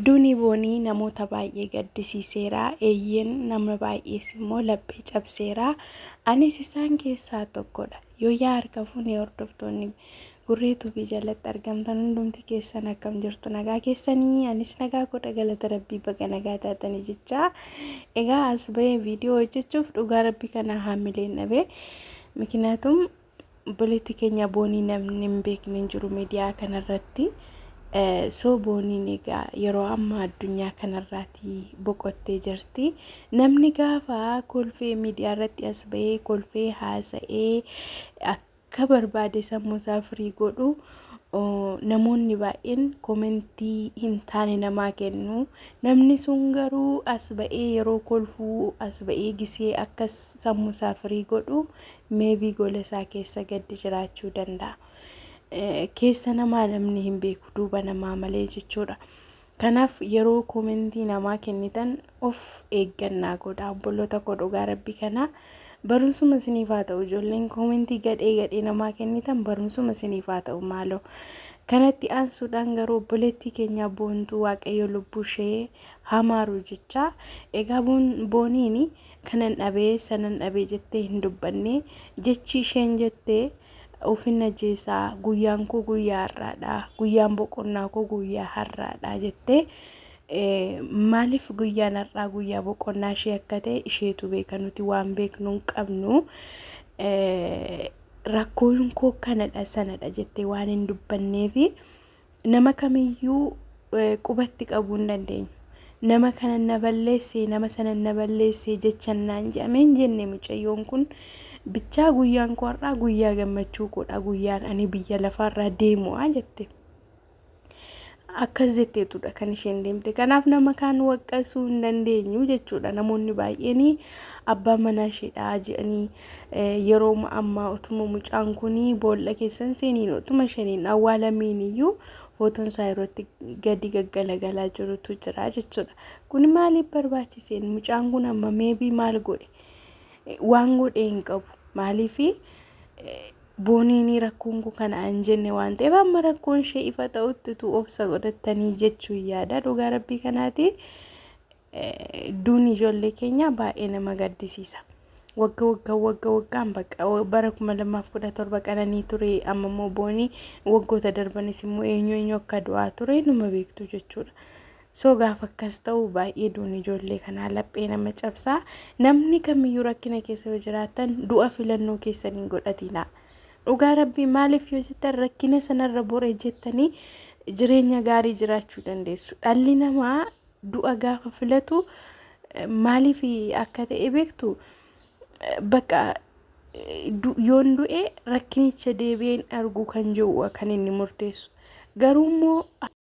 Duuni Boonii namoota baay'ee gaddisiiseera, eeyyeen nama baay'ees immoo laphee cabseera. Anis isaan keessaa tokkodha. Yooyyaa harka fuunee hordoftoonni Gurree Tuubii jalatti argamtan hundumti keessan akkam jirtu nagaa keessanii anis nagaa godha galata rabbii baga nagaa taatanii jechaa egaa as bahee viidiyoo hojjechuuf dhugaa rabbii kana haamileen dhabee ምክንያቱም obboleetti keenya boonii namni hin beekne hin jiru miidiyaa kanarratti. Soo booniin egaa yeroo ammaa addunyaa kanarraati boqottee jirti. Namni gaafa kolfee miidiyaa irratti as bahee kolfee haasa'ee akka barbaade sammuu isaa firii godhu namoonni baay'een komentii hin taane namaa kennu. Namni sun garuu as ba'ee yeroo kolfuu as ba'ee gisee akka sammuu isaa firii godhu meebii gola isaa keessa gaddi jiraachuu danda'a. Keessa namaa namni hin beeku duuba namaa malee jechuudha. Kanaaf yeroo koomentii namaa kennitan of eeggannaa godha obboloota koo dhugaa rabbi kanaa barumsuma isiniif haa ta'u ijoolleen koomentii gadhee gadhee namaa kennitan barumsuma isiniif haa ta'u maaloo. Kanatti aansuudhaan garuu obboleettii keenya boontuu waaqayyo lubbuu ishee hamaaru jechaa egaa booniin kanan dhabee sanan dhabee jettee hin dubbanne jechi isheen jette ofin ajjeesaa guyyaan koo guyyaa har'aadha guyyaan boqonnaa koo guyyaa har'aadha jettee maaliif guyyaan har'aa guyyaa boqonnaa ishee akka ta'e isheetu beeka nuti waan beeknu hin qabnu rakkoon koo kanadha sanadha jettee waan hin dubbanneefi. nama kamiyyuu qubatti qabuu hin dandeenyu. Nama kana na balleesse nama sana na balleesse jechan naan jedhamee hin jenne mucayyoon kun bichaa guyyaan koo har'aa guyyaa gammachuu koodha guyyaan ani biyya lafaarraa deemu'a jette. Akkas jetteetudha kan isheen deemte. Kanaaf nama kaan waqqasuu hin dandeenyu jechuudha. Namoonni baay'een abbaan manaa isheedhaa jedhanii Yerooma ammaa utuma mucaan kun boolla keessan seeniin utuma shaniin awwaalamiin iyyuu footoon isaa irratti gadi gaggalagalaa jirutu jira jechuudha. Kun maaliif barbaachiseen mucaan kun amma meebii maal godhe waan godhe hin qabu maaliif booniin rakkoon kun kana hin jenne waan ta'eef amma rakkoon ishee ifa ta'utti utuu obsa godhattanii jechuun yaada dhugaa rabbii kanaati. duun ijoollee keenyaa baay'ee nama gaddisiisa. Wagga wagga wagga waggaan bakka bara kuma lamaaf kudha torba qananii ture amma immoo boonii waggoota darbanis immoo eenyu eenyu akka du'aa ture numa beektu jechuudha. So gaafa akkas ta'u baay'ee duun ijoollee kanaa laphee nama cabsaa namni kamiyyuu rakkina keessa yoo jiraatan du'a filannoo keessan hin godhatinaa. Dhugaa rabbii maaliif yoo jettan rakkina sanarra boree jettanii jireenya gaarii jiraachuu dandeessu. Dhalli namaa du'a gaafa filatu maaliif akka ta'e beektu bakka yoon du'e rakkinicha deebi'een arguu kan jiru kan inni murteessu garuu immoo